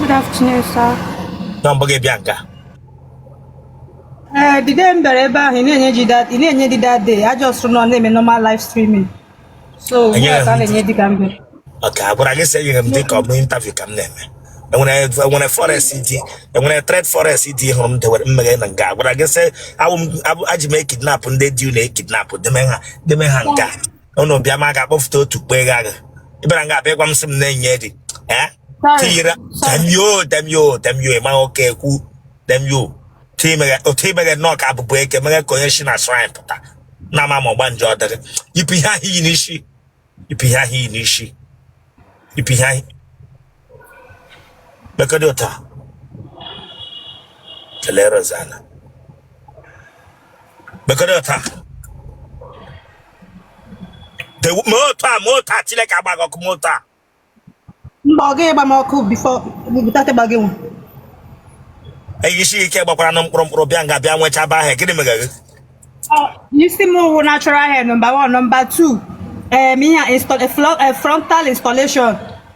Good afternoon, sir. Nwa mgbeke bịa nga. Ee, eh, the day m bịara ebe ahụ ị na-enye di ị na-enye di that day a just nọ na-eme normal live streaming. So, ugbu a ka na-enye di ka m bịara. Okay, a gwara gị sị enyere m di ka ọ bụ interview ka m na-eme. enwere enwere forest dị enwere trade forest ị hụrụ m dewere mmeghe na nga a gwara gị sị awụ m aji m ekidnapụ ndị di na-ekidnapụ deme ha deme ha nga unu bịa ma ga-akpọfụta otu kpe gha gị ị bịara nga bịa gwa m sị m na-enye di eh? tiyira damn you damn you damn you ị ma oke ekwu damn you otu imeghe nnọọ ka abụbụ eke meghe ka onye si na shrine pụta na ama ma ọgbanje ọ dịrị yipụ ihe ahụ i yi n'isi yipụ ihe ahụ i yi n'isi yipụ ihe ahụ Lekọta ụta kelere ọzala. Lekọta ụta. Te- Mee otu a, mee otu a, Chineke agba gị ọkụ, mee otu a. mba ọ gaghị agba m ọkụ before without ịgba gị nwa Eyi isi ike gbakwara na mkpụrụ mkpụrụ bịa nga bịa nwechaba ahịa, gịnị mega gị? isi m wụ natural hair number 1 number 2 em ihe a install- a flo- a frontal installation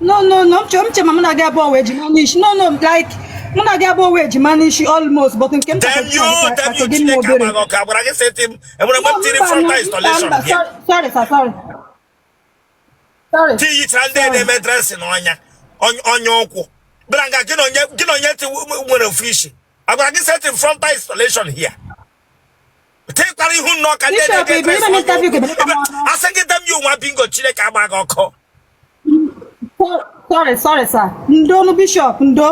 no no no m che m che ma mụ na gị abụọ wụ ejima n'isi no no like mụ na gị abụọ wụ ejima n'isi almost but nke m chọrọ gị nwa obere no mba mba sorry sir sorry sorry tiyichara ndị na-eme dressing n'ọnya ọnya ụkwụ bịara nga gị na onye nwere ofu isi a gwara gị setting frontal installation here tekwara ihu nnọọ ka ndị na-ege asị gị damn you nwa bingo chineke agba gị ọkụ sorry sorry sir ndo nu bishop ndo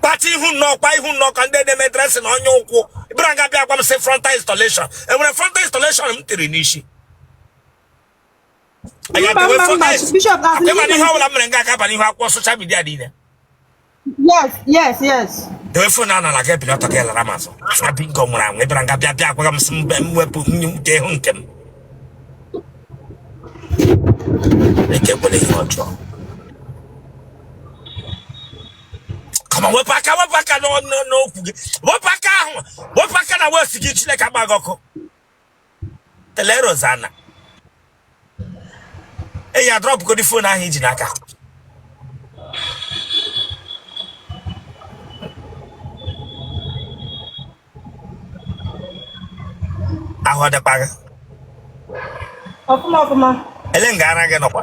kpacha ihu nnọọ kwa ihu nnọọ ka ndị na-eme dressing n'ọnya ụkwụ bịara nga bịa gwa m sị frontal installation e nwere frontal installation m tiri n'isi Anyị Mba, atewe mba, mba, fọkais. Bishop, as in- Ị ma na ihe ọ bụla mere nga aka abalị ihu akwụkwọ social media niile. Yes, yes, yes. Dewe phone a n'ala gị bilọta gị lara m azụ. Afọ bingo nwụrụ anwụ. Ị bịara nga bịa bịa agwa m sị mbe m wepụ nye m dee hụ nke m. Eke kwere ihe ọjọọ. Come on wepụ aka wepụ aka n'ọ- n'ọ- n'ukwu gị. Wepụ aka ahụ. Wepụ aka na waist gị Chineke agba gị ọkụ. telerozana enyi a drọpụgodi phone ahụ i ji n'aka ahụ ọ dịkwa gị ọfụma ọfụma ele nga ara gị nọkwa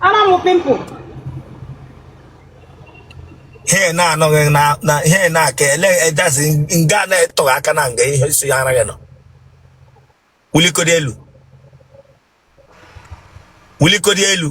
Ana m pimpụ. Ihe na-anọghị na ihe na-aka ele ejazi nga na-etọghị aka na nga ihe si ya anaghị nọ. Wulikodi elu. Wulikodi elu.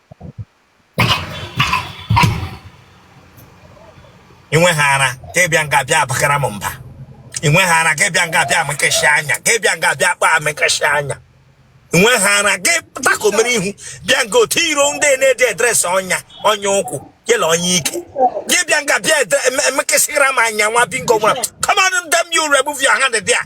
inwe ha ara ka ị bịa nga bịa abakara m mba inwe ha ara ka ị bịa nga bịa emekesị anya ka ị bịa nga bịa kpaa emekesị anya inwe ha ara gị atakomere ihu bịa nga otu iro ndị na-edi edress ọnya ọnya ụkwụ yela ọnya ike gị bịa nga bịa emekesịra m anya nwa bingo nwa come on damn you remove your hand there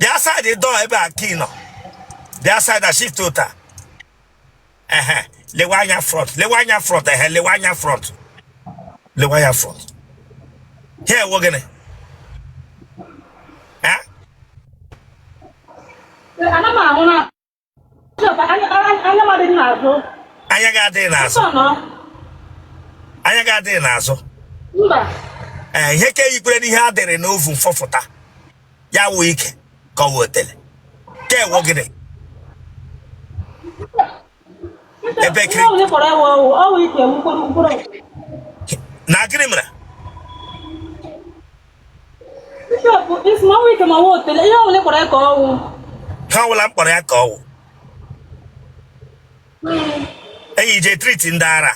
bịa side dọọ ebe a nke nọ bịa side a shiftụta ehe lewe anya front lewe anya front ehe lewe anya front lewe anya front ihe a wụ gịnị Eh? Ana m ahụ na anya gị adịghị n'azụ anya gị adịghị n'azụ ee ihe ka eyikwere n'ihe a dịrị n'oven fọfụta ya wụ ike ka ọ wụ otele ka ọ wụ gịnị ebe kiri na gịnị mere ihe ọwụla m kpọrọ ya ka ọ wụ i je treat ndị ara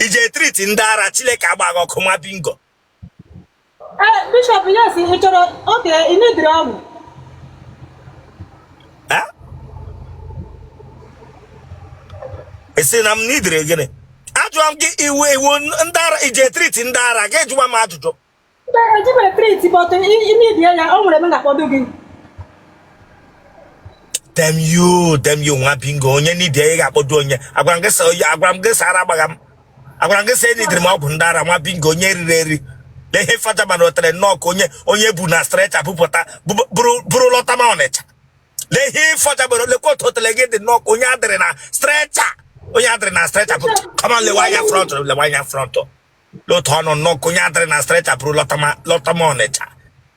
i je treat ndị ara Chileke agba gị ọkụ nwa bingo Eh, bishọp yes ị chọrọ oke ị needrị ọgwụ Eh? ị sị na m needrị gịnị ajụọ m gị ị wụ ị wụ ndị ara i je treat ndị ara gị jụwa m ajụjụ ejibere treat but i mebie ya o nwere m ga-akpọdo gị damn you damn you nwa bingo onye n'idi ị ga-akpọdo onye agwara m gị sa- agwara m gị sị ara agbagha m agwara m gị sị eneedrị m ọgwụ ndị ara nwa bingo onye riri eri lee ihe fada mana otele nnọọ ka onye e bu na stretcher bupụta buru lọta ma Ọnịcha lee ihe fada but lekwa otu otele gị dị nnọọ ka onye adịrị na stretcher onye adịrị na stretcher bu come on lewe anya front lewe anya front lee otu ọ nọ nnọọ ka onye adịrị na stretcher buru lọta ma Ọnịcha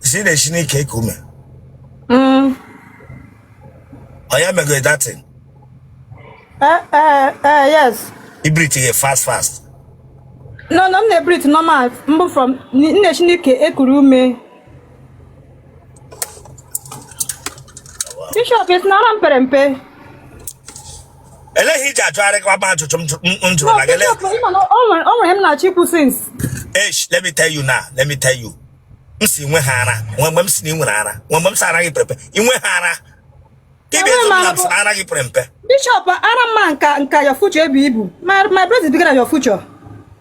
sị na e si n'ike eku ume Mm. onye megoro that thing Eh, eh, eh, yes. ị breathe ga fast fast No, no, m na-ebreathe normal. Mbụ from n- na-esi n'ike ekuru ume. Bishop, ị sị na ara m pere mpe. ele ihe i ji ajụgharị kwa ma ajụjụ m jụrụ na gị o nwere m na-achọ ikwu since esh let me tell you now let me tell you m si nwe ha ara nwe mgbe m si na ị nwere ara nwe mgbe m si ara gị pere mpe inwe ha ara ibi ezu na m si ara gị pere mpe bishop ara m nka ka your future ebu ibu my breast is bigger than your future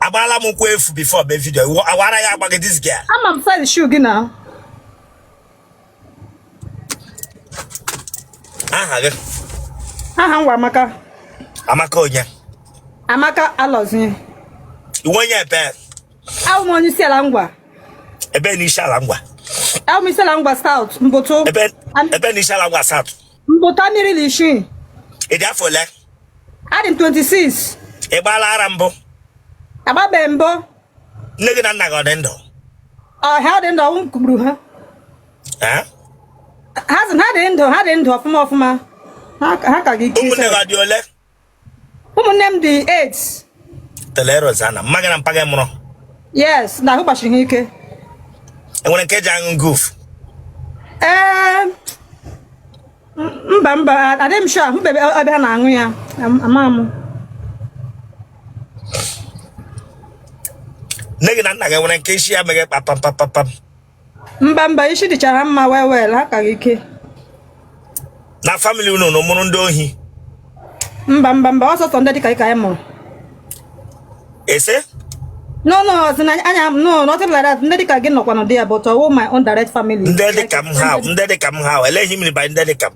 agbala m ụkwụ efu before the video awara ya agbaghị this girl ama m file shoe gị na aha gị aha m wụ amaka amaka onye amaka alozie ị wụ onye ebe awụ m onye isi ala ngwa ebe na isi ala ngwa awụ m isi ala ngwa south mbụtụ ebe na isi ala ngwa south mbụtụ amairi na isii ị dị afọ ole adị m 26 ị gbaala ara mbụ agbabeghị m mbụ nne gị na nna gị ọ dị ndụ ọ ha dị ndụ ọnwụ kụgburu ha Eh? ha sị na ha dị ndụ ha dị ndụ ọfụma ọfụma ha ka- ha ka gị ike ụmụnne gị ọ dị ole ụmụnne m dị eight teleros ana mma gị na mpa gị mụrụ yes na ahụ gbasiri ha ike e nwere nke ji aṅụ goof ee mba mba adịghị m sure ahụbebe m ebe ha na-aṅụ ya ama m nne gị na nna gị e nwere nke isi ya meghe kpapam kpapam mba mba isi dịcha ha mma well well ha ka gị ike na family unu na mụrụ ndị ohi mba mba mba ọ sọsọ ndị dịka gị ka anyị mụrụ ị sị no no ọ sị na anya no nothing like that ndị dịka gị nọkwanụ dị ya but ọ wụ my own direct family ndị dịka m ha ndị dịka m ha ele ihe ị mean by ndị dịka m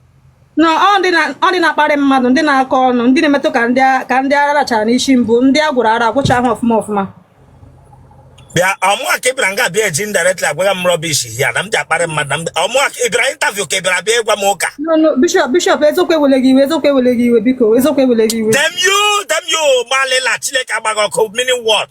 no ọ ndị na-akparị mmadụ ndị na-akọ ọnụ ndị na-emetụ ka ndị ara rachara n'isi mbụ ndị a gwọrọ ara gwọchahụ ọfụma ọfụma bịa ọ mụa ka ị bịara nga bịa eji indirectly agwagha m rubbish ya na m ji akparị mmadụ na ọ mụa ka ị bịara interview ka ị bịara bịa ịgwa m ụka bishop bishop eziokwu ewele gị iwe eziokwu ewele gị iwe biko eziokwu ewele gị iwe damn you damn you gbalịla chineke agba gị ọkụ meaning what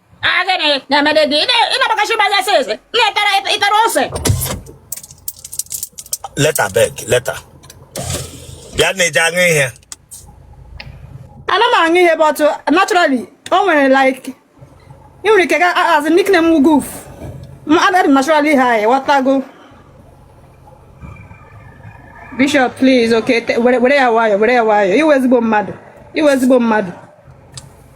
ọ gịnị na-emedị gị ị na-agbakachi ụmụ anya since na-etara ị tara ose leta beg leta bịa ị na-eji aṅụ ihe ana m aṅụ ihe but naturally o nwere like ị nwere ike as nickname m goof m adịrị naturally high ị wọtago bishop please okay were ya nwayọ were ya nwayọ ị wụ ezigbo mmadụ ị wụ ezigbo mmadụ